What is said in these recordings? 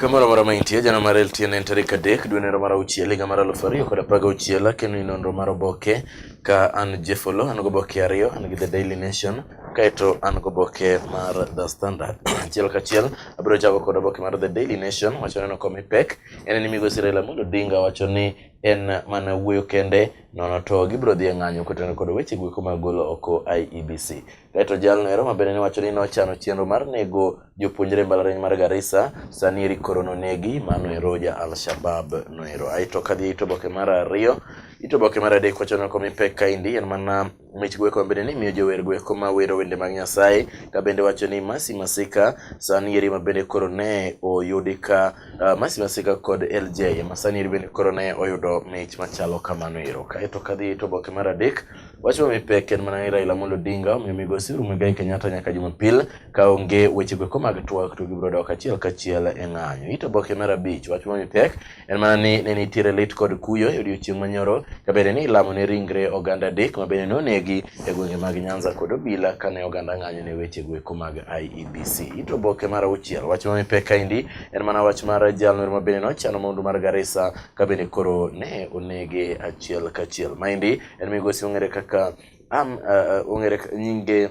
Kamoro amora ma intie, jana mar LTN en tarik adek dwe nero mar auchiel higa mar aluf ariyo kod apar gauchiel akeno ni nonro mar oboke ka an Jefolo an goboke ariyo an gi The Daily Nation kaeto an goboke mar The Standard achiel kachiel abiro chako kod oboke mar The Daily Nation wacho neno komi pek en ni migosi Raila Amolo Odinga wacho ni en mana wuoyo kende nono to gibiro dhi e ng'anyo kotenore kod weche gweko mag golo oko IEBC. Kaeto jalno ero mabende ne wacho ni nochano chenro mar nego jopuonjre mbalariany mar Garissa sani eri koro nonegi mano ero ja Al-Shabab no ero. Aeto kadhi ito boke mar ariyo ito boke mar adek wacho noko mipek kaindi en mana mich gweko mabende ni miyo jower gweko ma wero wende mag Nyasaye ka bende wacho ni Masi Masika sani eri mabende koro ne oyudi ka uh, Masi Masika kod LJ ma sani eri bende koro ne oyudo mich machalo kamano ero. Kaeto kadhi ito boke mar adek Wacho mipe ker mana Raila Amolo Odinga omiyo migosi Uhuru Muigai Kenyatta nyaka Jumapil ka onge weche go mag twak to gibiro dok achiel kachiel e ng'anyo. Ito boke mar abich wach ma mipek en mana ni ne nitiere lit kod kuyo e odiechieng' manyoro ka bende ni ilamo ne ringre oganda adek ma bende nonegi e gwenge mag Nyanza kod Obila kane oganda ng'anyo ne weche go mag IEBC. Ito boke mar auchiel wach ma mipek kaendi en mana wach mar jalno ma bende nochano maundu mar Garissa ka bende koro ne onege achiel kachiel. Maendi en migosi ong'ere kaka am uh, ong'ere nyinge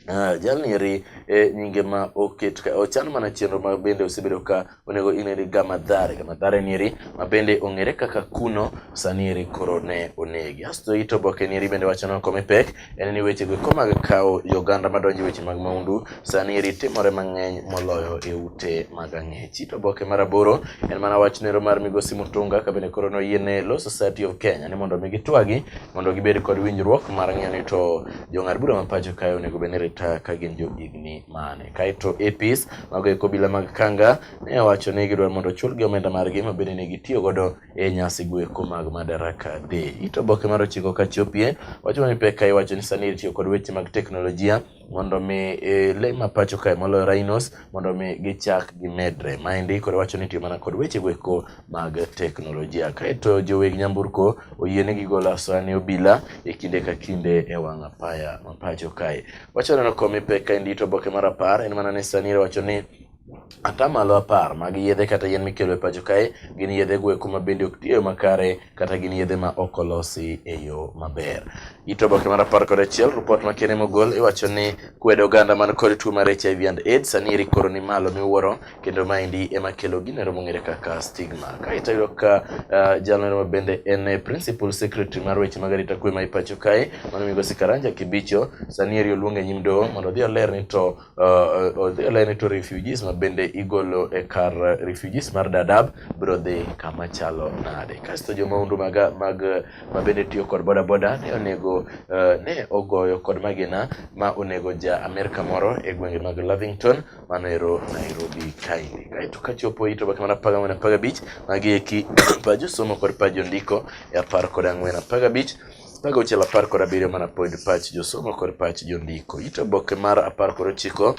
Ah, jalni eri e nyinge ma oket ka ochan mana chenro ma bende osebedo ka onego ineri gamadhare gamadhare ni eri ma bende ong'ere kaka kuno sani eri koro ne onegi asto ito boke ni eri bende wacho ni okome pek en ni weche go komaga kawo yoganda madonjo e weche mag maundu Sani rit timore mang'eny moloyo e ute mag ang'ech. It oboke mar aboro en mana wach nero mar migosi Mutunga ka bende koro noyiene Law Society of Kenya ni mondo omi gitwagi mondo gibed kod winjruok mar ng'eyo ni to jong'ad bura ma pacho kae onego bed ni rita ka gin jo higni mane. Kaeto APs mago e kobila mag Kanga ne owacho ni gidwaro mondo ochulgi omenda margi ma bende ne gitiyo godo e nyasi gweko mag Madaraka Day. It oboke mar ochiko ka chopie wacho ni pek ka iwacho ni sani itiyo kod weche mag teknolojia mondo mi e, le ma pacho kae moloyo rhinos mondo mi gichak gimedre. Maendi koro wacho ni tiyo mana kod weche goeko mag teknolojia. Kaeto joweg nyamburko oyie ni gigolo asoya ne obila e kinde ka kinde e wang' apaya ma pacho kae. Wacho neno komi pek kaendi to oboke mar apar en mana ni sani wacho ni Atamalo apar mag yedhe kata yien mikelo e pacho kae gin yedhe gweko ma bende ok tiyo makare kata gin yedhe ma ok olosi e yo maber. It oboke mar apar kod achiel ripot ma kene mogol iwacho ni kwedo oganda man kod tuo mar HIV and AIDS sani eri koro ni malo miwuoro kendo maendi ema kelo gino ero mong'ere kaka stigma. Ka itayudo ka uh, jalno ma bende en principal secretary mar weche mag arita kwe ma ipacho kae mano migosi Karanja Kibicho sani eri oluong e nyim doho mondo odhi oler ni to uh, uh odhi olene to refugees ma bende igolo e kar uh, refugees mar Dadaab biro dhi kama chalo nade. Kasto jo maundu mag mag ma bende tiyo kod boda boda ne onego uh, ne ogoyo kod magina ma onego ja Amerka moro e gwenge mag Lavington mano ero Nairobi kaindi. Kaito kachopo ito baka mana paga mana paga beach magi eki pajo somo kod pajo ndiko e apar kod ang'wen apaga beach Mago auchiel apar kod abiriyo mana pod pach josomo kod pach jondiko. Ito oboke mar apar kod ochiko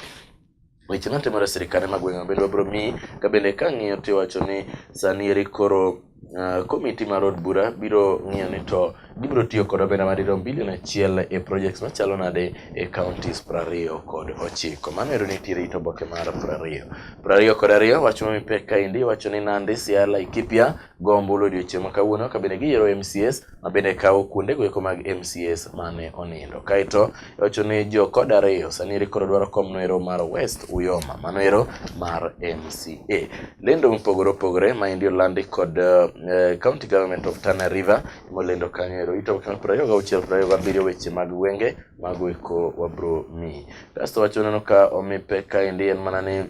weche matimore e sirkande mag gwenge bende wabiro miyi ka bende ka ng'iyo tiwacho ni sani eri koro Uh, komiti mar od bura biro ng'iyo ni to gibiro tiyo kod omenda madirom bilion achiel e projects machalo nade e counties prariyo kod ochiko mano ero nitiere it oboke mar prariyo prariyo kod ariyo wach ma mipek kaendi wacho ni nandi siaya laikipia go ombulu odiochieng' ma kawuono ka bende giyiero mcs ma bende kawo kuonde goeko mag MCS mane onindo. Kaeto wacho ni jo kod ariyo sani eri koro dwaro kom noero mar West Uyoma mano ero mar MCA. Lendo mopogore opogore ma endi olandi kod uh, County Government of Tana River molendo kanyo ero ito kama prayo ga uchiel prayo ga biriyo weche mag wenge mago eko wabro mi. Kasto wacho neno ka omi peka endi en mana ni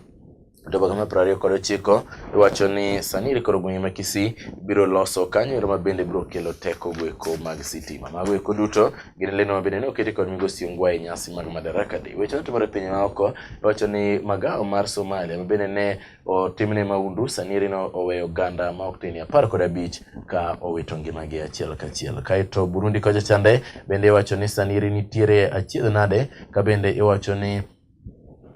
to Bagame piero ariyo kod ochiko iwacho ni sani iri koro gwenge ma Kisii biro loso kanyo ero ma bende biro kelo teko goeko mag sitima. Mago eko duto gin lendo ma bende ne oketi kod Migosi Ongwa e nyasi mag Madaraka Day. Weche matimore e pinje maoko iwacho ni magawa mar Somalia ma bende ne otimne maundu sani eri ne oweyo oganda ma ok tin apar kod abich ka owito ngimagi achiel kachiel. Kaeto Burundi kocha chande bende iwacho ni sani eri nitiere achiedh nade ka bende iwacho ni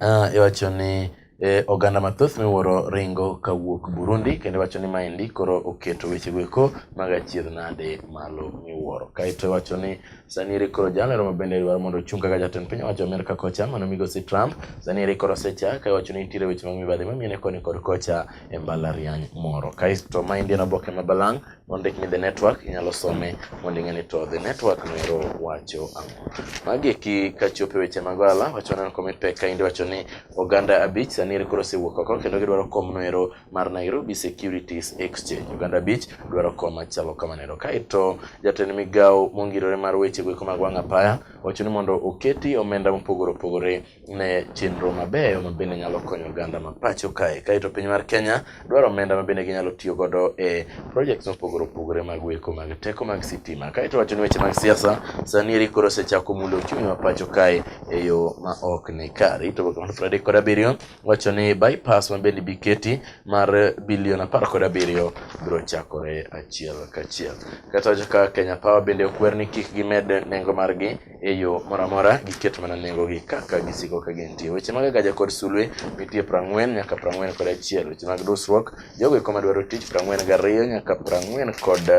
Uh, iwacho ni eh, oganda mathoth miwuoro ringo kawuok Burundi kendo iwacho ni maendi koro oketo wechego eko mag achiedh nade malo miwuoro. Kaeto iwacho ni sani eri koro jalero ma bende dwaro mondo ochung kaka jatend piny owacho Amerka kocha mano migosi Trump sani eri koro osecha ka iwacho ni nitiere weche mag mibadhi mamiene koni kod kocha e mbalariany moro. Kaeto maendi en oboke ma balang' ondik ni the network inyalo some mondo ing'e ni to the network noero wacho ang'o. Magi eki kachopo e weche mag ohala wacho neno comment pek kaendi wacho ni oganda abich sani eri koro osewuok oko kendo gidwaro kom noero mar Nairobi Securities Exchange. Oganda abich dwaro kom machalo kamano ero. Kaeto jatend migawo mongirore mar weche goeko mag wang' apaya wacho ni mondo oketi omenda mopogore opogore ne chenro mabeyo ma bende nyalo konyo oganda ma pacho kae. Kaeto piny mar Kenya dwaro omenda ma bende ginyalo tiyo godo e projects mopogore opogore mag weko mag teko mag sitima. Kaeto wacho ni weche mag siasa sani eri koro osechako mulo uchumi ma pacho kae e yo ma ok ni kare. To boke mar Friday kod abiriyo wacho ni bypass ma bende biketi mar bilion apar kod abiriyo biro chakore achiel kachiel. Kaeto wacho ka Kenya Power bende okwer ni kik gimed nengo margi e yo moro amora giketo mana nengogi kaka gisiko ka gintie. Weche mag agaja kod sulwe nitie prang'wen nyaka prang'wen kod achiel. Weche mag dusruok jogo eko madwaro tich prang'wen gariyo nyaka prang'wen kod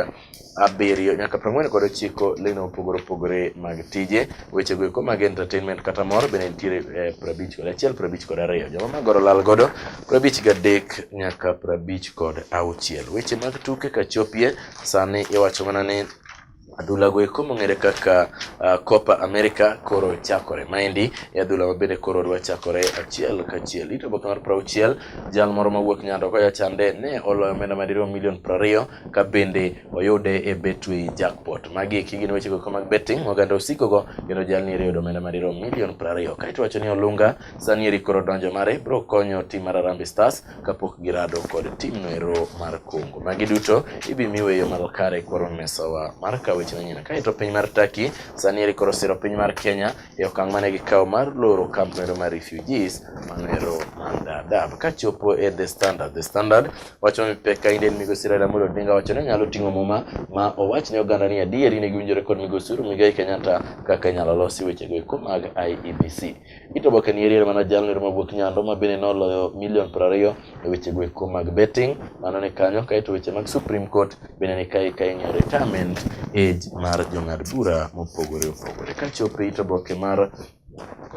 abiriyo nyaka prang'wen kod ochiko leno opogore opogore mag tije. Wechego eko mag entertainment kata mor bende nitiere eh, prabich kod achiel prabich kod ariyo. Joma magoro lal godo prabich gadek nyaka prabich kod auchiel. Weche mag tuke kachopie sani iwacho mana ni Adhula go eko mong'ere kaka uh, Copa America koro chakore. Maendi e adhula ma bende koro dwa chakore achiel kachiel. Ito boka mar prauchiel, jal moro mawuok nyando koya chande ne oloyo omenda madirom milion prariyo ka bende oyude e Betway jackpot. Magi eki gin weche go mag betting oganda osiko go kendo jal ni yudo omenda madirom milion prariyo. Kaito wacho ni Olunga sani eri koro donjo mare bro konyo tim mar Harambee Stars kapok girado kod timno ero mar kungo. Magi duto ibimiwe yo malo kare koro mesawa mar kawo weche manyien. Kaeto piny mar Turkey sani eri koro siro piny mar Kenya e okang' mane gikawo mar loro kamp ero mar refugees mano ero mar Dadaab. Kachopo e The Standard, The Standard wacho ni pek kainde en migosi Raila Amolo Odinga wacho ni nyalo ting'o muma ma owach ne oganda ni adieri ne giwinjore kod migosi Uhuru Muigai Kenyatta kaka inyalo losi wechego eko mag IEBC. Itobo Kanieri mana jalno ma wuok Nyando ma bende noloyo milion piero ariyo e weche goeko mag betting mano ni kanyo kaeto weche mag Supreme Court bende ni kae ka ing'iyo retirement age mar jong'ad bura mopogore opogore. Kachopo e itoboke mar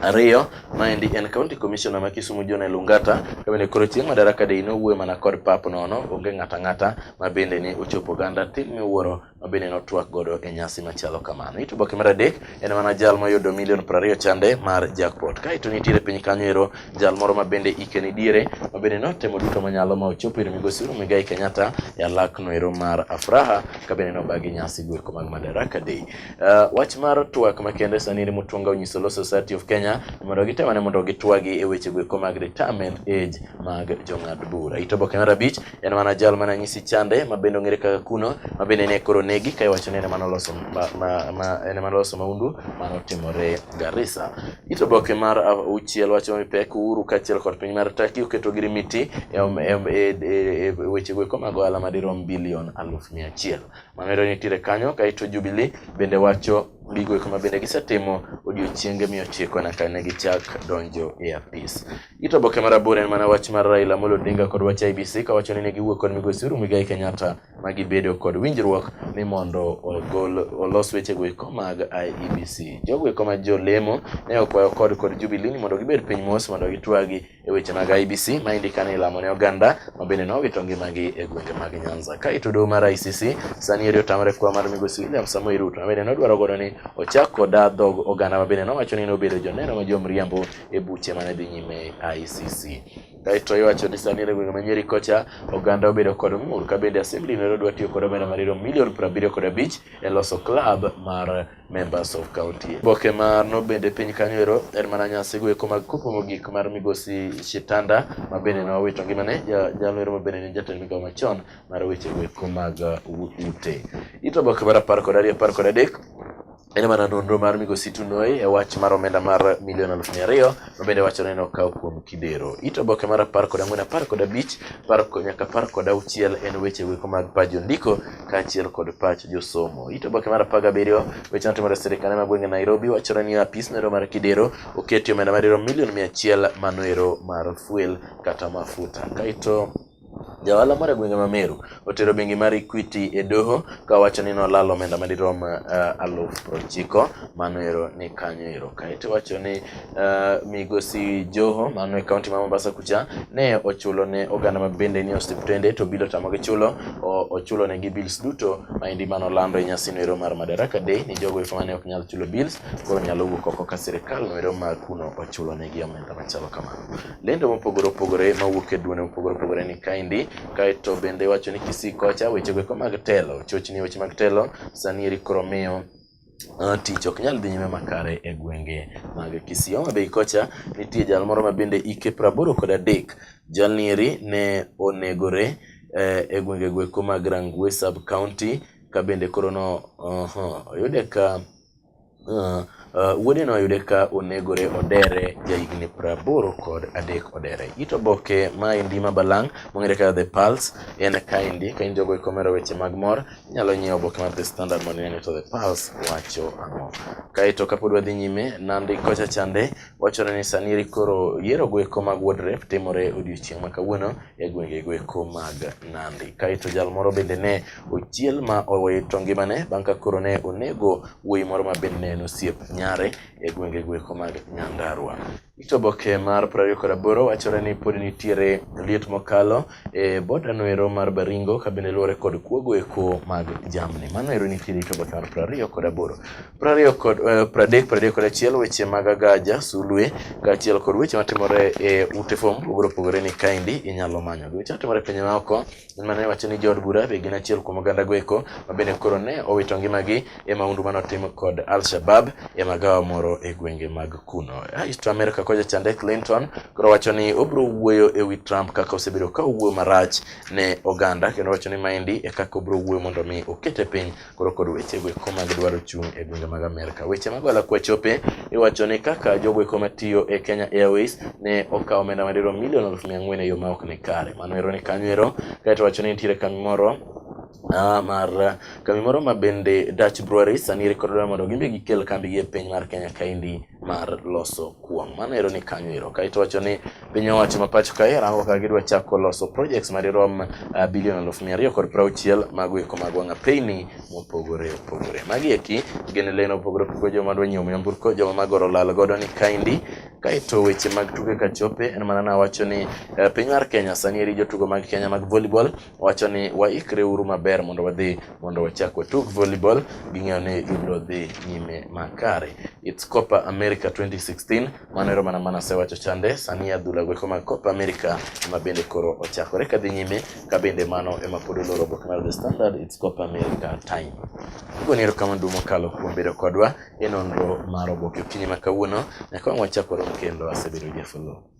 ariyo maendi en county commissioner ma Kisumu John Elungata ka bende koro chieng' madaraka day nowuoyo mana kod pap nono onge ng'ata ng'ata ma bende ne ochopo oganda tim miwuoro ma bende notwak godo e nyasi machalo kamano. It oboke mar adek en mana jal moyudo milion prariyo chande mar jackpot. Kaeto nitiere piny kanyo ero jal moro ma bende ike ni diere ma bende notemo duto manyalo ma ochopo ir migosi Uhuru Muigai Kenyatta e alakno ero mar Afraha ka bende nobagi nyasi goeko mag Madaraka Day. Uh, wach mar twak makende sani Mutunga onyiso Law Society of Kenya mondo gitemane mondo gitwagi e weche goeko mag retirement age mag jong'ad bura. It oboke mar abich en mana jal mana nyisi chande ma bende ong'ere kaka kuno ma bende ne koro negi ka iwacho ni en ema noloso ma, ma, ma, en ema noloso maundu mane otimore Garissa. It oboke mar auchiel wacho ni pek Uhuru kaachiel kod piny mar Turkey oketo girimiti e, om- e, om- e, e, e weche goeko mag ohala madirom bilion aluf mia achiel. Mamedo nitiere kanyo kaeto Jubilee bende wacho gigo eko ma bende gisetimo odiochienge mia ochiko nyaka ne gichak donjo e apis. Ito boke mar aboro en mana wach mar Raila Amolo Odinga kod wach IBC kawacho ni ne giwuok kod migosi Uhuru Muigai Kenyatta ma gibedo kod winjruok ni mondo ogol olos wechego eko mag IEBC. Jogo eko ma jolemo ne okwayo kod kod Jubilee ni mondo gibed piny mos mondo gitwagi e weche mag IEBC ma indika ni lamo ne oganda ma bende nowito ngimagi e gwenge mag Nyanza. Ka ito doho mar ICC sani eri otamre kwa mar migosi William Samoei Ruto ma bende nodwaro godo ni ochak koda dhog oganda ma bende nowacho ni nobedo joneno ma jomriambo e buche mane dhi nyime e ICC. Kaeto iwacho ni sani e gwenge ma Nyeri kocha oganda obedo kod ng'ur ka bende assembly no dwa tiyo kod omenda mariyo milion piero abiriyo kod abich e loso club mar members of county. Boke mar no bende piny kanyo ero en mana nyasi goeko mag kopo mogik mar migosi Shitanda ma bende nowito ngimane jalo ero ma bende ne jatend migawo machon mar weche goeko mag uh, ute. Ito boke mar apar kod ariyo apar kod adek En mana nonro mar migosi Tunoi e wach mar omenda mar milion aluf mia ariyo ma bende wacho ni nokaw kuom Kidero. It oboke mar apar kod ang'wen, apar kod abich par ko- nyaka apar kod auchiel en weche weko mag pach jondiko kaachiel kod pach josomo. It oboke mar apar gabiriyo weche matimore e sirkande mag gwenge Nairobi wachore ni apis noero mar Kidero oketi omenda madirom milion mia achiel manoero mar fuel kata mafuta. Kaito Jaohala moro e gwenge ma Meru otero bengi mar Equity e doho ka wacho ni nolalo omenda madirom uh, eh, aluf prochiko mano ero ni kanyo ero. Kaeto wacho ni uh, migosi Joho mano e kaunti ma Mombasa kucha ne ochulo ne oganda ma bende ni osiptende to bilo tamo gi chulo ochulo ne gi bills duto ma indi mano lando e nyasi no ero mar Madaraka Day ni jogo ifo mane ok nyal chulo bills koro nyalo wuok oko ka sirkal no ero ma kuno ochulo ne gi omenda machalo kamano. lendo mopogore opogore mawuok e duonde mopogore opogore ni kaendi kaeto bende wacho ni Kisii kocha wechego eko mag telo chochni weche mag telo sani eri koro miyo Uh, tich ok nyal dhi nyime makare e gwenge mag Kisii. Homa Bay kocha nitie jal moro ma bende ike praboro kod adek. Jalni eri ne onegore eh, e gwenge gweko mag Rangwe sub county ka bende koro no uh, oyude ka Uh, uh, wuodeno oyude ka onegore odere jahigni praboro kod adek odere ito boke ma endi ma balang' mong'ere kaka the pulse en kaendi ka in jogo ikomero weche mag mor inyalo nyiewo oboke mar the standard mondo inene to the pulse wacho ang'o kaeto kapod wadhi nyime nandi kocha chande Wachore ni sani koro yiero goeko mag Wuod Rep timore odiochieng' ma kawuono e gwenge goeko mag Nandi. Kaeto jal moro bende ne ochiel ma owito ngimane bang' ka koro ne onego wuoyi moro ma bende ne en osiep nyare e gwenge goeko mag Nyandarua. Ito boke mar 28 wachore ni pod nitiere liet mokalo e boda noero mar Baringo ka bende luwore kod kuogo eko mag jamni. Mano ero nitie rito bota mar prariyo kod aboro. Prariyo kod eh, pradek, pradek kod achiel weche mag agaja, sulwe, kaachiel kod weche matimore e ute fom pogore opogore ni kaendi inyalo manyo. Weche matimore e pinje maoko, mane wacho ni jood bura be gin achiel kuom oganda go eko ma bende koro ne owito ngimagi e maundu mane otim kod Al-Shabab e magawa moro e gwenge mag kuno. Rais to Amerka kocha chande Clinton koro wacho ni obiro wuoyo e wi Trump kaka osebedo ka owuoyo marach ne oganda kendo wacho ni maendi e kaka obiro wuoyo mondo mi okete piny koro kod weche go eko mag dwaro chung' e gwenge mag Amerka. Weche mag wala kwa chope iwacho ni kaka jogo eko matiyo e Kenya Airways ne okawo omenda madirom milion aluf mia ang'wen e yo ma ok ni kare. Mano ero ni kanyo ero kaeto wacho ni nitiere kambi moro Ah, mar eh, kambi moro ma bende Dutch Brewery sani rekodore mondo gimbe gikel kambi gi e piny mar Kenya kaendi mar loso kuon. Mano ero ni kanyo ero. Kaito wacho ni piny owacho ma pacho kae rango ka gidwa chako loso projects ma dirom uh, ah, bilion aluf mia ariyo kod prauchiel mago eko mag wang'a peyni mopogore opogore. Magi eki gin leno opogore opogore joma dwa nyiewo nyamburko joma magoro lal godo ni kaendi Kaeto weche mag tuke kachope en mana nawacho ni eh, piny mar Kenya sani eri jotugo mag Kenya mag volleyball wacho ni waikre uru maber mondo wadhi mondo wachak watug volleyball ging'eyo ni gibiro dhi nyime makare its copa america 2016 mano ero mana mana sewacho chande sani adhula goeko mag copa america ema bende koro ochakore kadhi nyime ka bende mano ema pod oloro oboke mar the standard its copa america time igoni ero kama dumo kalo kuom bedo kodwa e nonro mar oboke okinyi ma kawuono nyaka wang' wachak warom kendo asebedo jafolo